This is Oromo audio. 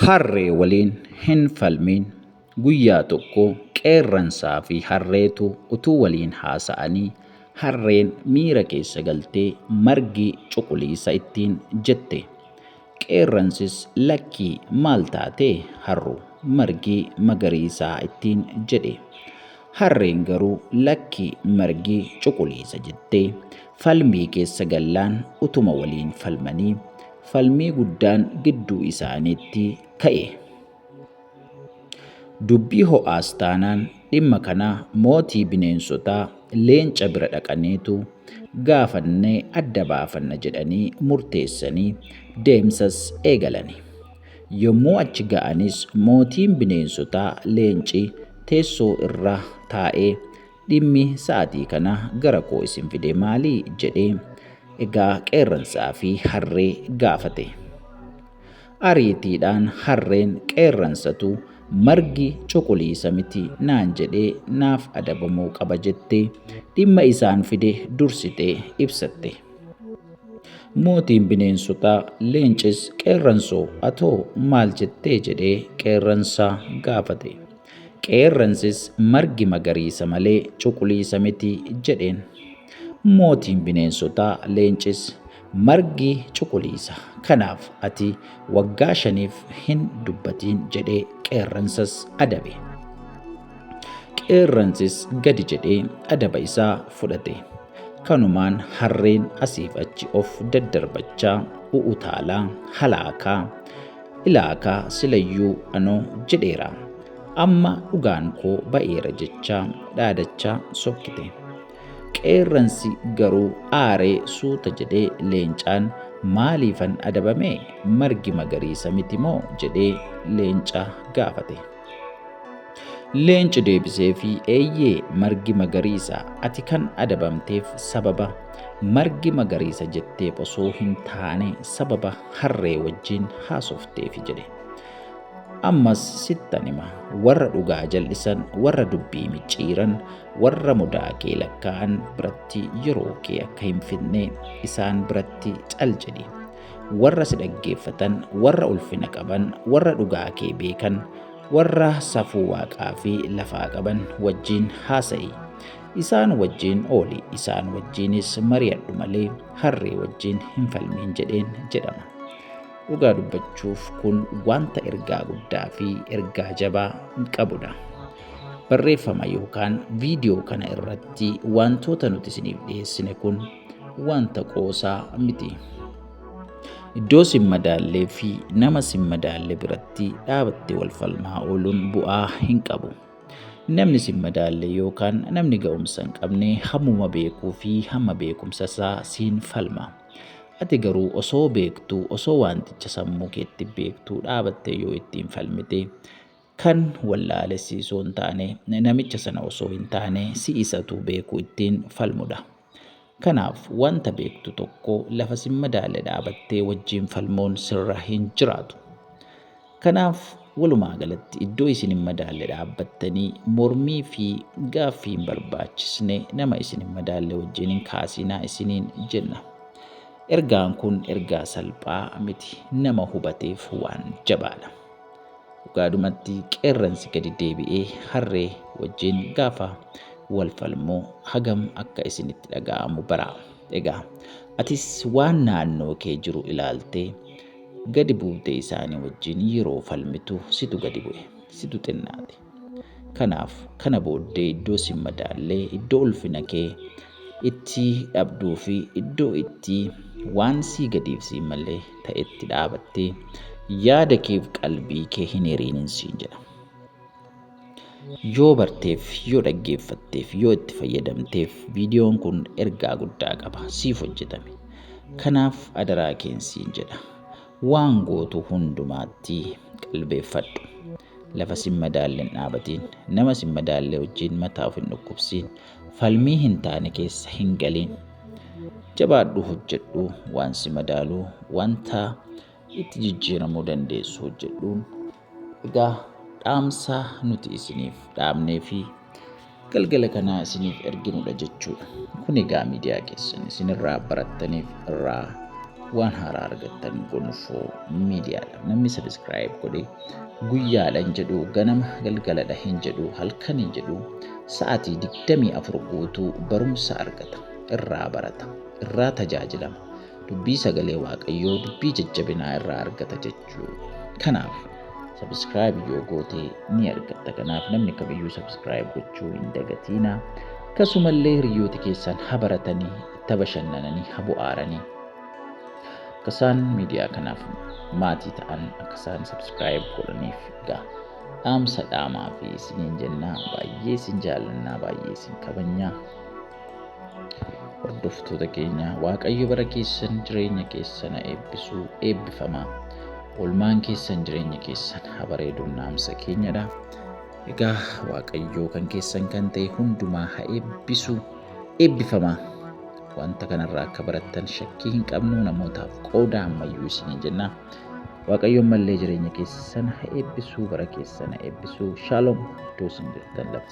Harree waliin hin falmiin. Guyyaa tokko qeerransaa fi harreetu utuu waliin haasa'anii harreen miira keessa galtee margi cuquliisa ittiin jette. Qeerransis lakkii maal taatee harru margi magariisaa ittiin jedhe. Harreen garuu lakki margi cuquliisa jettee falmii keessa gallaan utuma waliin falmanii Falmii guddaan gidduu isaaniitti ka'e. Dubbii ho'aas taanaan dhimma kana mootii bineensotaa leenca bira dhaqaniitu gaafannee adda baafanna jedhanii murteessanii deemsas eegalani. Yommuu achi ga'anis mootiin bineensotaa leenci teessoo irra taa'ee Dhimmi sa'atii kana gara koo isin fide maali? jedhee egaa qeerransaa fi harree gaafate. Ariitiidhaan harreen qeerransatu margi cuquliisa miti naan jedhee naaf adabamuu qaba jettee dhimma isaan fide dursitee ibsatte. Mootiin bineensotaa leencis qeerransoo atoo maal jettee jedhee qeerransaa gaafate. Qeerransis margi magariisa malee cuquliisa miti jedheen. Mootiin bineensotaa leencis margi cuquliisa kanaaf ati waggaa shaniif hin dubbatiin jedhee qeerransas adabe. Qeerransis gadi jedhee adaba isaa fudhate. Kanumaan harreen asiif achi of daddarbachaa u'utaalaa halaakaa Ilaakaa silayyuu anoo jedheera amma dhugaan koo ba'eera jechaa dhaadachaa sokkite. Qeerransi garuu aaree suuta jedhee leencaan maaliifan adabame margi magariisa miti moo jedhee leenca gaafate. Leenci deebiseefi eeyyee margi magariisa ati kan adabamteef sababa margi magariisa jetteef osoo hin taane sababa harree wajjin haasofteefi jedhe. Ammas sittan hima warra dhugaa jal'isan warra dubbii micciiran warra mudaa kee lakkaa'an biratti yeroo kee akka hin fidne isaan biratti cal jedhi. warra si dhaggeeffatan, warra ulfina qaban, warra dhugaa kee beekan, warra safuu waaqaa fi lafaa qaban wajjin haasa'i. Isaan wajjin ooli, isaan wajjinis mari'adhu malee harree wajjin hin falmiin jedheen jedhama. Dhugaa dubbachuuf kun wanta ergaa guddaa fi ergaa jabaa qabudha. Barreeffama yookaan viidiyoo kana irratti wantoota nuti isiniif dhiyeessine kun wanta qoosaa miti. Iddoo sin madaallee fi nama sin madaalle biratti dhaabattee wal falmaa ooluun bu'aa hin qabu. Namni sin madaalle yookaan namni ga'umsa hin qabne hammuma beekuu fi hamma beekumsa isaa siin falma. Ati garuu osoo beektuu osoo wanticha sammuu keetti beektuu dhaabattee yoo ittiin falmite Kan wallaale si osoo hin taane, namicha sana osoo hin taane, si isatu beeku ittiin falmudha. Kanaaf wanta beektu tokko lafa sin madaalle dhaabattee wajjin falmuun sirra hin jiraatu. Kanaaf walumaa galatti iddoo isin hin madaalle dhaabbattanii mormii fi gaaffii hin barbaachisne nama isin hin madaalle wajjin hin kaasinaa isiniin jenna. Ergaan kun ergaa salphaa miti, nama hubateef waan jabaadha. Dhugaadhumatti qeerransi gadi deebi'ee harree wajjin gaafa wal falmu hagam akka isinitti dhaga'amu bara. Egaa atis waan naannoo kee jiru ilaaltee gadi buutee isaanii wajjin yeroo falmitu situ gadi bu'e, situ xinnaate. Kanaaf, kana booddee iddoo sin madaalle, iddoo ulfina kee itti dhabduu fi iddoo itti waan sii gadiif sii male ta'etti dhaabattee yaada keef qalbii kee hin hiriinin siin jedha. Yoo barteef, yoo dhaggeeffatteef, yoo itti fayyadamteef viidiyoon kun ergaa guddaa qaba. Siif hojjetame. Kanaaf adaraa keen siin jedha. Waan gootu hundumaatti qalbeeffadhu. Lafa sin madaalle hin dhaabatiin. Nama sin madaalle wajjin mataa of hin dhukkubsiin. Falmii hin taane keessa hin galiin. Jabaadhu hojjedhu waan si madaalu wanta itti jijjiiramuu dandeessu hojjedhuun. Egaa dhaamsa nuti isiniif dhaabnee fi galgala kana isiniif erginudha jechuudha. Kun egaa miidiyaa keessan isinirraa barattaniif irraa waan haaraa argattan gonfoo miidiyaadha. Namni sabiskiraayib godhe guyyaadha hin jedhu, ganama galgaladha hin jedhu, halkan hin jedhu, sa'aatii 24 guutuu barumsa argata, irraa barata, irraa tajaajilama. Dubbii sagalee Waaqayyoo, dubbii jajjabinaa irraa argata jechuudha. jechuu kanaaf subscribe yoo goote ni argatta kanaaf namni kamiyyuu subscribe gochuu hin dagatiina akkasumallee hiriyooti keessan ha baratanii itti bashannananii ha bu'aaranii akka isaan miidiyaa kanaaf maatii ta'an akka isaan subscribe godhaniif egaa dhaamsa dhaamaa fi isiniin jennaa baay'ee isin jaallannaa baay'ee isin kabajnaa Hordoftoota keenya Waaqayyo bara keessan jireenya keessan eebbisuu eebbifama. Oolmaan keessan jireenya keessan haa bareedu naamsa keenyadha. Egaa Waaqayyo kan keessan kan ta'e hundumaa haa eebbisu eebbifama. Wanta kanarraa akka barattan shakkii hin qabnu namootaaf qooda ammayyuu isiniin jenna. Waaqayyo ammallee jireenya keessan haa eebbisu bara keessan haa eebbisu. Shaaloom iddoo isin jirtan lafa.